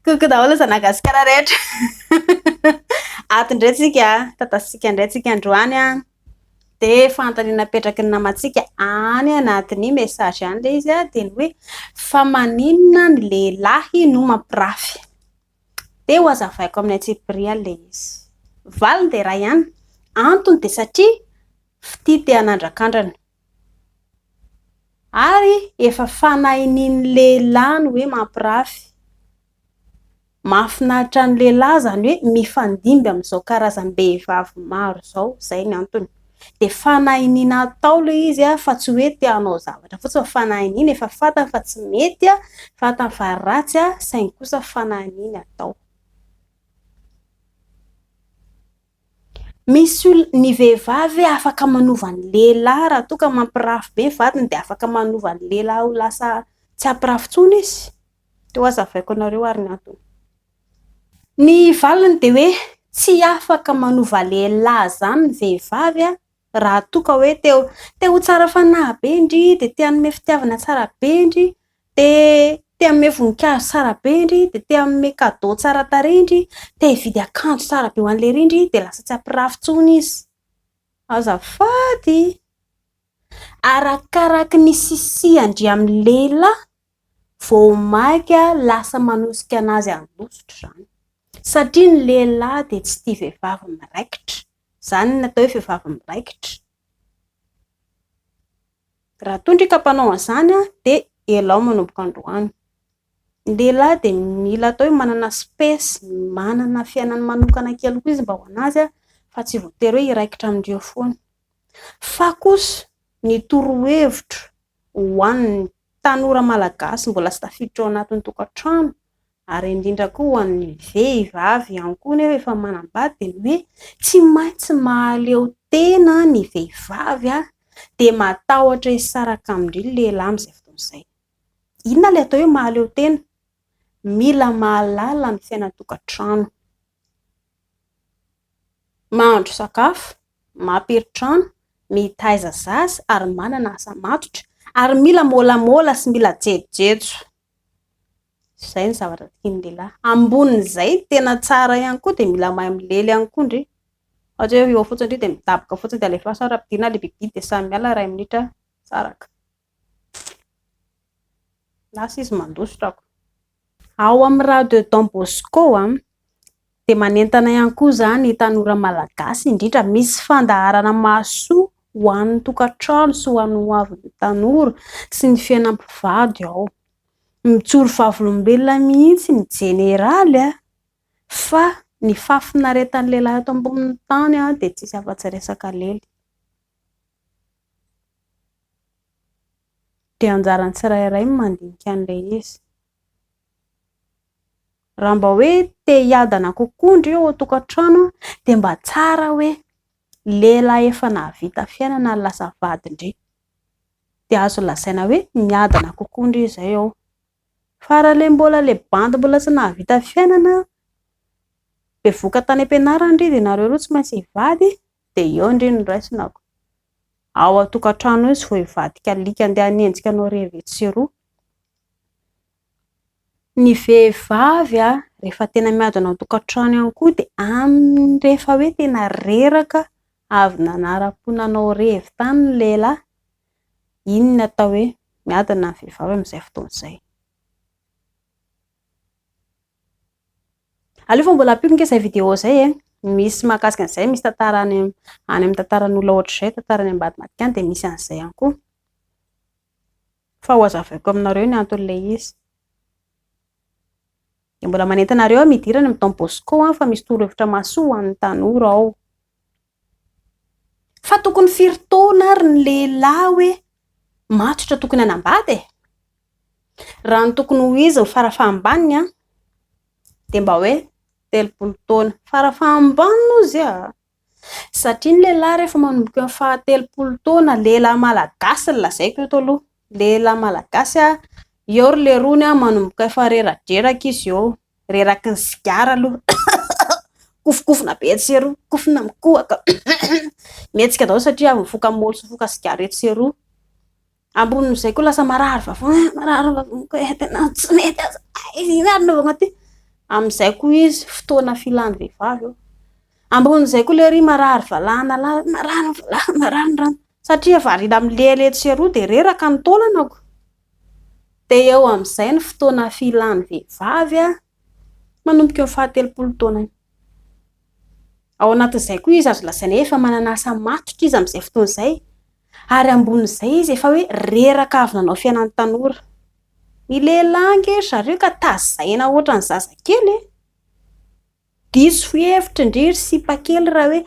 Coucou daholo zanagasikara rehetra. Ato ndray tsika, tatasintsika ndray tsika androany a. Dia fanontaniana apetraky ny namantsika any anatin'ny message any ilay izy dia ny hoe fa maninona ny lehilahy no mampirafy. Dia ho azavaiko amin'ny antsipiriany ilay izy. Valiny dia iray ihany, antony dia satria fitia te hanandrakandrana. Ary efa fanahin'iny lehilahy ny hoe mampirafy. Mahafinaritra ny lehilahy izany hoe mifandimby amin'izao karazam-behivavy maro izao, izay no antony. Dia fanahin'iny atao ilay izy fa tsy hoe te hanao zavatra fotsiny fa fanahin'iny, efa fantany fa tsy mety, fantany fa ratsy saingy kosa fanahin'iny atao. Misy ol ny vehivavy hoe afaka manova ny lehilahy raha toa ka mampirafy be ny vadiny dia afaka manova ny lehilahy ho lasa tsy hampirafy intsony izy. Toa ho hazavaiko anareo ary ny antony. Ny valiny dia hoe tsy afaka manova lehilahy izany ny vehivavy raha toa ka hoe te ho tsara fanahy be ndry, dia te hanome fitiavana tsara be ndry, Te te hanome voninkazo tsara be ndry, dia te hanome cadeau tsara tarehy ndry, te hividy akanjo tsara be ho an'ilay ry ndry, dia lasa tsy hampirafy intsony izy. Azafady! Arakaraky ny sisia ndry amin'ny lehilahy vao maika lasa manosika an'azy hanosotra izany. Satria ny lehilahy dia tsy tia vehivavy miraikitra. Izany no atao hoe vehivavy miraikitra. Raha toa ndry ka mpanao an'izany dia elao manomboka androany. Ny lehilahy dia mila atao hoe manana space, manana fiainany manokana kely koa izy mba ho an'azy fa tsy voatery hoe hiraikitra amindreo foana. Fa kosa ny torohevitro ho an'ny tanora malagasy mbola tsy tafiditra ao anatin'ny tokantrano ary indrindra koa ho an'ny vehivavy ihany koa nefa efa manambady dia ny hoe tsy maintsy mahaleo tena ny vehivavy a, dia matahotra hisaraka amin-dry lehilahy amin'izay fotoana izay. Inona ilay atao hoe mahaleo tena? Mila mahalala ny fiainan-tokantrano. Mahandro sakafo, mampiry trano, mitaiza zaza ary manana asa matotra ary mila môlamôla sy mila jejojejo. Izay ny zavatra tian'ny lehilahy. Ambonin'izay, tena tsara ihany koa dia mila mahay milely ihany koa ndry. Ohatra hoe eo fotsiny ndry dia midaboka fotsiny dia alefaso ary ampidirina ilay bibi dia samy miala iray minitra saraka. Lasa izy mandositra ako. Ao amin'ny radio Don Bosco, Dia manentana ihany koa izany ny tanora malagasy indrindra, misy fandaharana mahasoa ho an'ny tokantrano sy ho an'ny hoavin'ny tanora sy ny fiainam-pivady ao. Mijoro vavolombelona mihitsy ny jeneraly a! fa ny fahafinaretan'ny lehilahy eto ambonin'ny tany dia tsisy afa-tsy resaka lely. Dia anjaran'ny tsirairay ny mandinika an'ilay izy. Raha mba hoe te hiadana kokoa ndry eo an-tokantrano dia mba tsara hoe lehilahy efa nahavita fiainana no lasa vady ndry. Dia azo lazaina hoe miadana kokoa ndry izay ao. Fa raha ilay mbola ilay bandy mbola tsy nahavita fiainana, bevoka tany am-pianarana ndry dia ianareo roa tsy maintsy hivady dia eo ndry no raisina. Ao an-tokantrano eo izy vao hivadika alika handeha hanenjika anao irery vitsy sy roa. Ny vehivavy rehefa tena miadana ao an-tokantrano ihany koa dia amin'ny rehefa hoe tena reraka avy nanara-po nanao revy tany ny lehilahy, iny no atao hoe miadana ny vehivavy amin'izay fotoana izay. Aleo fa mbola ampiako ange izay video izay e, misy mahakasika an'izay, misy tantara any amin'ny tantaran'olona ohatr'izay, tantara any ambadimbadika any dia misy an'izay ihany koa. Fa hohazavaiko aminareo ny anton'ilay izy. Dia mbola manentana anareo aho midira any amin'ny Don Bosco an, fa misy torohevitra mahasoa ho an'ny tanora ao. Fa tokony firy taona ary ny lehilahy hoe matotra tokony hanambady e? Raha ny tokony ho izy ny farafahambany an, dia mba hoe telopolo taona. Farafahambany hozy a! Satria ny lehilahy rehefa manomboka eo amin'ny fahatelopolo taona, lehilahy malagasy no lazaiko eto aloha, lehilahy malagasy, eo ry leirony manomboka efa reradreraka izy eo, reraky ny sigara aloha, kofokofona be etsy sy eroa, kofona mikohaka, mihetsika daholo satria avy nifoka moly sy nifoka sigara etsy sy eroa. Ambonin'izay koa lasa marary vava, eh, marary vavoniko eh, tena tsy mety aza, eh, iny ary nanaovana ity. Amin'izay koa izy, fotoana filan'ny vehivavy eo. Ambonin'izay koa lery marary valahana lahy, marary ny valahana, marary ny rano. Satria variana milehilehitsy etsy sy eroa dia reraka ny taolanako. Dia eo amin'izay ny fotoana filan'ny vehivavy a, manomboka eo fahatelopolo taona iny. Ao anatin'izay koa izy azo lazaina efa manana asa matotra izy amin'izay fotoana izay, Ary ambonin'izay izy efa hoe reraka avy nanao fiainan'ny tanora. Ny lehilahy ange ry zareo ka tazaina hoatran'ny zazakely e! Diso hevitra ndry ry sipa kely raha hoe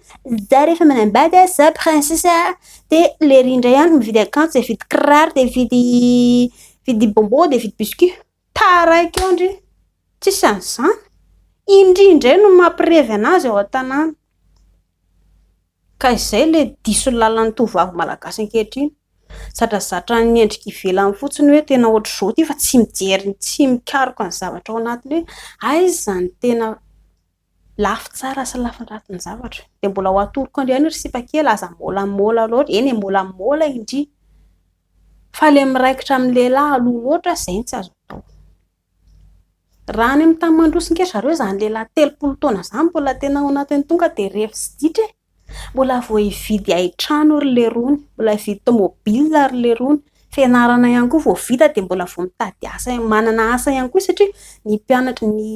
za rehefa manambady a, za princesse a, dia lery indray andro mividy akanjo, dia mividy kiraro, dia mividy mividy bonbon, dia mividy biscuit. Taraiky eo ndry! Tsisy an'izany! Indry indray no mampirevy anazy ao an-tanàna. Ka izay ilay diso lalan'ny tovovavy malagasy ankehitriny. Zadrazatra ny endrika ivelany fotsiny hoe tena ohatr'izao ity fa tsy mijery, tsy mikaroka ny zavatra ao anatiny hoe aiza ny tena. lafy tsara sy lafin-dratsy ny zavatra dia mbola ho atoroko andry ihany ry sipa kely aza molamola loatra eny e molamola indry fa le miraikitra amin'ny lehilahy aloha loatra izay no tsy azo atao raha any amin'ny tany mandroso nge zareo izany lehilahy telopolo taona izany mbola tena ao anatin'ny tonga dia revy sy ditra e Mbola vao hividy hain-trano ry lerony, mbola hividy tomobil ry lerony, fianarana ihany koa vao vita dia mbola vao mitady asa, manana asa ihany koa satria ny mpianatra, ny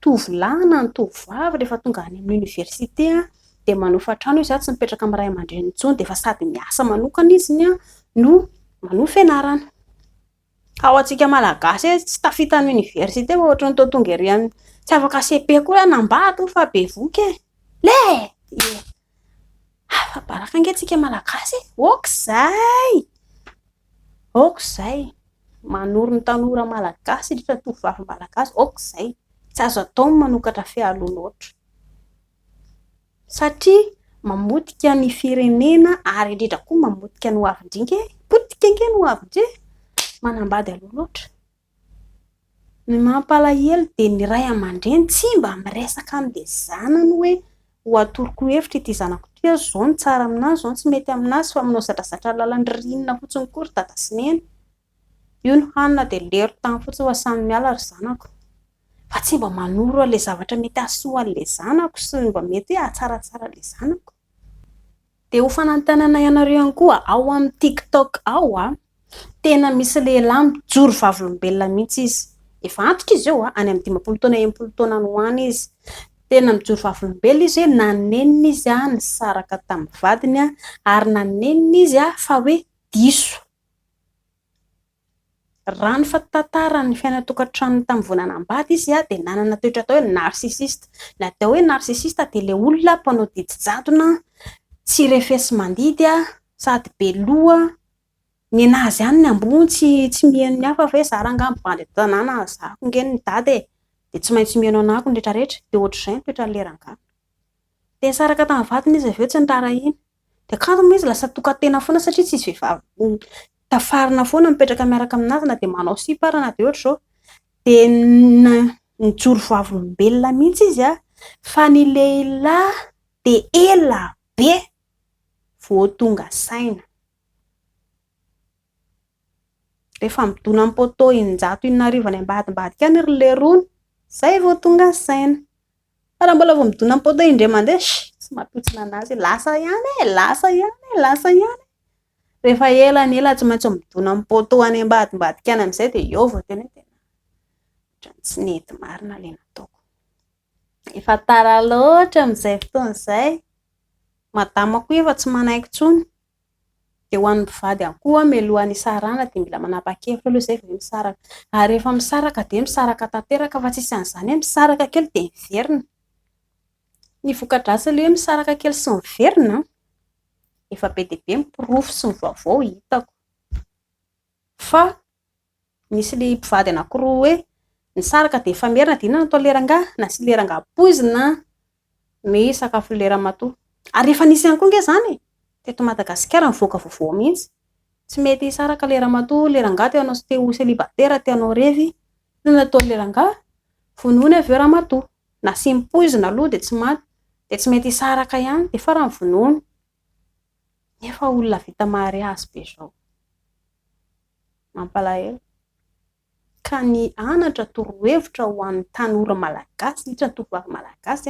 tovolahy na ny tovovavy rehefa tonga any amin'ny oniversite dia manofa trano izy tsy mipetraka amin'ny ray aman-dreniny intsony dia efa sady miasa manokana izy no manohy fianarana. Ka ho antsika malagasy hoe tsy tafita ny université fa ohatran'ny toa tonga ery amin'ny tsy afaka cepe koa hoe anambady fa bevoka e! Leh! Ie! Hafa baraka ange tsika malagasy e! Aok'izay! Aok'izay! Manoro ny tanora malagasy indrindra ny tovovavy malagasy aok'izay! Tsy azo atao ny manokatra fehialoha loatra. Satria mamotika ny firenena ary indrindra koa mamotika ny hoavin-drinky e! Potika ange ny hoavin-dry e! Manambady aloha loatra. Ny mampalahelo dia ny ray aman-dreny tsy mba miresaka amin'ilay zanany hoe ho atoroko hevitra ity zanako ity aho, izao no tsara amin'azy, izao no tsy mety amin'azy fa manao zadrazadra lalan-dririnina fotsiny koa ry dada sy neny. Io ny hanina dia lero tany fotsiny fa samy miala ry zanako. Fa tsy mba manoro an'ilay zavatra mety hahasoa an'ilay zanako sy ny mba mety hoe hahatsaratsara an'ilay zanako. Dia ho fanantenana ianareo ihany koa, ao amin'ny tiktok ao tena misy lehilahy mijoro vavolombelona mihitsy izy. Efa antitra izy eo, any amin'ny dimampolo taona enimpolo taona any ho any izy. Tena mijoro vavolombelona izy hoe nanenina izy nisaraka tamin'ny vadiny ary nanenina izy fa hoe diso. Raha ny fitantaran'ny fiainan'ny tokantranony tamin'ny volana ambady izy dia nanana toetra atao hoe narcissiste. Ny atao hoe narcissiste dia ilay olona mpanao didy jadona, tsy refesi-mandidy sady be loha. Nenazy azy ihany ny ambony, tsy miheno ny hafa fa hoe izaho raha angaha mivady eto an-tanàna, zahako ange ny dada e! dia tsy maintsy miheno anako ny rehetrarehetra. Dia hoatr'izay ny toetran'ilay rangahy. Dia nisaraka tamin'ny vadiny izy avy eo tsy niraharahiana. Dia kanto moa izy lasa tokan-tena foana satria tsy izy vehivavy tafarina foana mipetraka miaraka aminazy na dia manao sipa ary na dia ohatra izao. Dia nijoro vavolombelona mihitsy izy fa ny lehilahy dia ela be vao tonga saina. Rehefa midona amin'ny poteau in-jato in'arivo any ambadimbadika any ry leirony, izay vao tonga saina. Fa raha mbola vao midona am poteau indray mandeha, sh! tsy mampitsona anazy e, lasa ihany e, lasa ihany e, lasa ihany e, rehefa ela ny ela tsy maintsy midona am poteau any ambadimbadika any amin'izay dia eo vao tena hoe tena ohatran'ny tsy nety marina ilay nataoko, efa tara loatra amin'izay fotoana izay, madamako io efa tsy manaiky intsony. Dia ho an'ny mpivady ihany koa, mialoha ny hisarahana dia mila manapa-kevitra aloha izay vao hoe misaraka. Ary rehefa misaraka dia misaraka tanteraka fa tsy misy an'izany hoe misaraka kely dia miverina. Ny voka-dratsin'ilay hoe misaraka kely sy miverina an, efa be dia be ny porofo sy ny vaovao hitako fa. Nisy ilay mpivady anankiroa hoe nisaraka dia efa merina dia inona no atao lera angaha? Nasia lera angaha poizina ny sakafon'i lera matoa. Ary efa nisy ihany koa ange izany e! Teto Madagasikara nivoaka vaovao mihitsy. Tsy mety hisaraka lera matoa lera angaha te hanao te ho célibataire te hanao revy. Inona no atao lera angaha? Vonoiny avy eo ramatoa. Nasiany poizina aloha dia tsy maty dia tsy mety hisaraka ihany dia farany vonoiny. Nefa olona vita mariazy be zao. Mampalahelo. Ka ny anatra torohevitra ho an'ny tanora malagasy, indrindra ny tovovavy malagasy,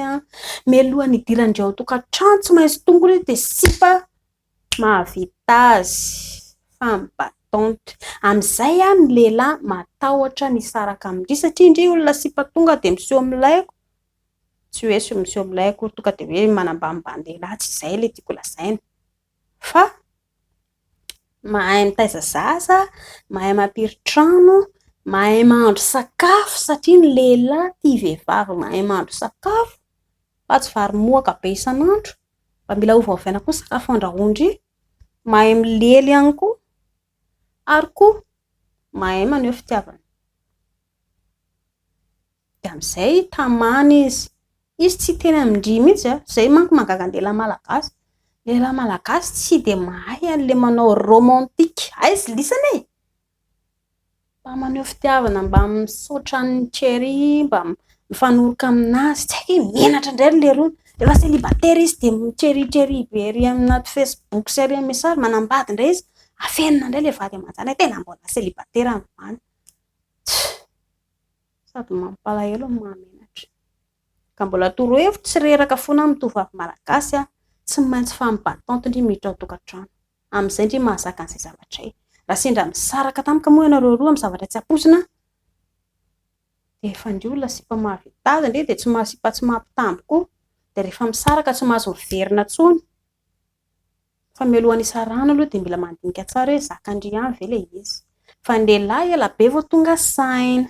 mialoha ny hidirandry ao an-tokantrano tsy maintsy tongony dia sipa mahavita azy, femme battante. Amin'izay ny lehilahy matahotra misaraka amin-dry satria ndry olona sipa tonga dia miseho milay tsy hoe sy miseho milay akory tonga dia hoe manambanimbani-dehilahy, tsy izay ilay tiako lazaina. Fa mahay mitaiza zaza, mahay mampiry trano, mahay mahandro sakafo satria ny lehilahy tia vehivavy mahay mahandro sakafo fa tsy vary mohaka be isan'andro, mba mila ovaovaina koa ny sakafo andrahoan-dry, mahay milely ihany koa. ary koa mahay maneho fitiavana. Dia amin'izay tamana izy. Izy tsy tena mindria mihitsy an, izay manko mahagaga ny lehilahy malagasy, ny lehilahy malagasy tsy dia mahay an'ilay manao romantique, aiza lisany e? Mba maneho fitiavana, mba misaotra an'i Cherry, mba mifanoroka aminazy, tsy hay ve menatra indray ry Leirona? Efa célibataire izy dia mi-cherry cherry be ery anaty Facebook sy ery amin'ny message, manambady indray izy, afenina indray ilay vady aman-janany, tena mbola célibataire androany, sady mampalahelo no mahamenatra. Ka mbola torohevitro tsy reraka fona amin'ny tovovavy malagasy a, tsy maintsy femme battante ndry miditra ao tokantrano, amin'izay ndry mahazaka an'izay zavatra izay. Raha sendra misaraka tampoka moa ianareo roa amin'ny zavatra tsy ampoizina a, dia efa ndry olona sipa mahavita azy ndry dia tsy maha sipa tsy maha mpitambo koa, dia rehefa misaraka tsy mahazo miverina intsony, fa mialoha ny hisarahana aloha dia mila mandinika tsara hoe zaka ndry ihany ve ilay izy, fa ny lehilahy ela be vao tonga saina.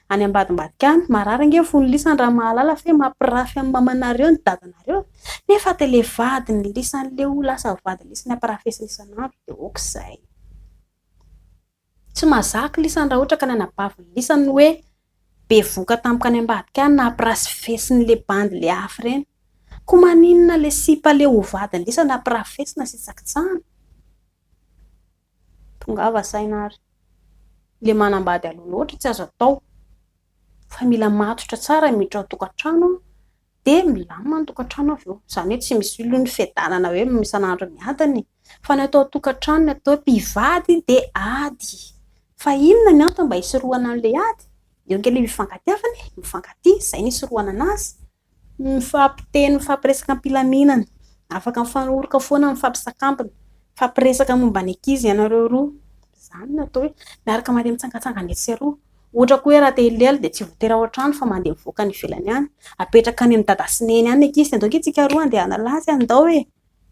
Any ambadimbadika any, marary ange ny fon'i lisany raha mahalala fa hoe mampirafy an'i mamanareo ny dadanareo nefa dia ilay vadin'i lisany ilay ho lasa vadin'i lisany ampirafesiny isan'andro dia ok izay. Tsy mahazaka lisany raha ohatra ka ny anabavin'i lisany no hoe bevoka tampoka any ambadika any nampirasfesiny ilay bandy ilay afo ireny. Koa maninona ilay sipa ilay ho vadin'i lisany ampirafesina sy hitsakitsahana? Tongava saina ary. Ilay manambady aloha loatra tsy azo atao. Fa mila matotra tsara ny miditra ao an-tokantrano an, dia milamina ny tokantrano avy eo. Izany hoe tsy misy olona fiadanana hoe isan'andro miadana e! Fa ny atao an-tokantrano, ny atao hoe mpivady dia ady. Fa inona ny antony mba hisorohana an'ilay ady? Eo ange ilay izy mifankatiavana e! Mifankatia, izay no hisorohana anazy. Mifampiteny, mifampiresaka am-pilaminana. Afaka mifanoroka foana amin'ny fampisakambina. Mifampiresaka momba ny ankizy ianareo roa. Izany no atao hoe miaraka mandeha mitsangatsangana etsy sy eroa. Ohatra koa hoe raha te hilely dia tsy voatery ao an-trano fa mandeha mivoaka any ivelany any. Apetraka any amin'ny dada sy neny any ny ankizy dia andao ange isika roa handeha hanala azy any ndao e!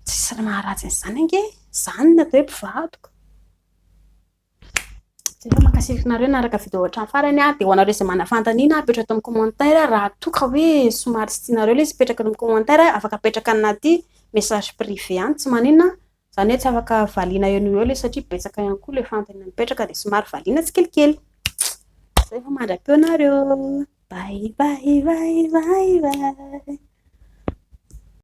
Tsisy maharatsy an'izany ange e! Izany no atao hoe mpivadika. Jereo mankasitraka anareo naraka video hatramin'ny farany a, dia ho anareo izay manana fanontaniana apetraka ato amin'ny commentaire raha toa ka hoe somary tsy tianareo ilay izy mipetraka ato amin'ny commentaire afaka apetraka anaty message privé any tsy maninona izany hoe tsy afaka valiana eo no eo ilay izy satria betsaka ihany koa ilay fanontaniana mipetraka dia somary valiana tsikelikely. Izay vao mandra-peo anareo. Bye bye bye bye bye.